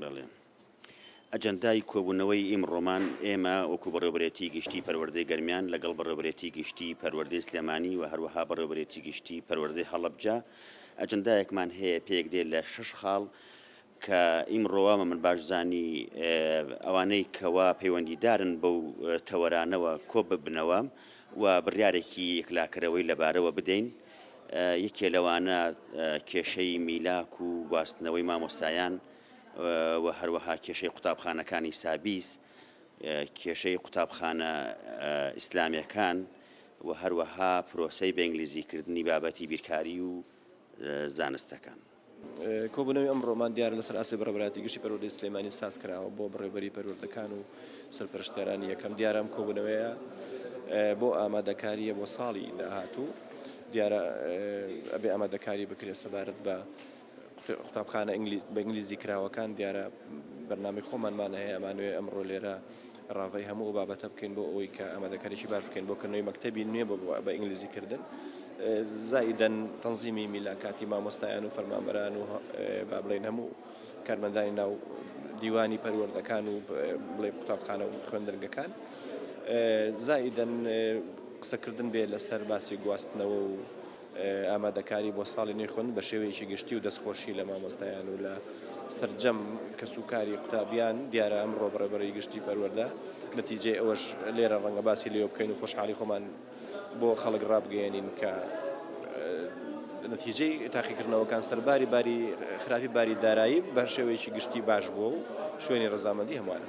بەڵێ. ئەجەندای کۆبوونەوەی ئیمڕۆمان ئێمە وەکو بەڕێوبەرێتی گشتی پەروەردەی گەرمیان لەگەڵ بەڕێوبەرێتی گشتی پەروەردەی سلێمانی و هەروەها بەڕێوبەرێتی گشتی پەروەردەی هەڵەبجە ئەجەندایەکمان هەیە پێک دێ لە شش خاڵ کە ئیمڕۆوە من باشزانی ئەوانەی کەوا پەیوەندیدارن بەو تەوەرانەوە کۆ ببنەوە و بڕیارێکی یەکلاکەرەوەی لەبارەوە بدەین. یەکێ لەوانە کێشەی میلاک و گواستنەوەی مامۆستایان و هەروەها کێشەی قوتابخانەکانی سابیس کێشەی قوتابخانە ئیسلامەکان و هەروەها پرۆسەی بەنگلیزیکردنی بابەتی بیرکاری و زانستەکان. کۆبوونەوەی ئەمڕۆمان دیارە لەسەر ئاستی بەڕێوەبەرایەتی گشتی پەروەردەی سلێمانی ساز کراوە بۆ بەڕێوەبەری پەروەردەکان و سەرپەرشتیارانی یەکەم دیارە ئەم کۆبوونەوەیە بۆ ئامادەکاریە بۆ ساڵی داهاتوو دیارە ئەبێ ئامادەکاری بکرێت سەبارەت بە قوتابخانە ئینگلیز بە ئینگلیزی کراوەکان دیارە بەرنامی خۆمانمان هەیە ئەمانوێ ئەمڕۆ لێرە راڤەی هەموو ئەو بابەتە بکەین بۆ ئەوەی کە ئامادەکاریی باش بکەین بۆ کردنەوەی مەکتەبی نوێ بە ئینگلیزی کردن. زائیدەن تەنزیمی میلاکاتی مامۆستایان و فەرمانبەران و با بڵێین هەموو کارمەندانی ناو دیوانی پەروەردەکان و بڵێ قوتابخانە و خوێندنگەکان زائیدەن قسەکردن بێ لەسەر باسی گواستنەوە و ئامادەکاری بۆ ساڵی نوێی خوێندن بە شێوەیەکی گشتی و دەستخۆشی لە مامۆستایان و لە سەرجەم کەسوکاری قوتابیان دیارە ئەمڕۆ بە ڕێبەری گشتی پەروەردە نەتیجەی ئەوەش لێرە ڕەنگە باسی لێوە بکەین و خۆشحاڵی خۆمان بۆ خەڵک ڕابگەیەنین کە نەتیجەی تاقیکردنەوەکان سەرباری باری خراپی باری دارایی بە شێوەیەکی گشتی باش بووە و شوێنی ڕەزامەندی هەمووانە.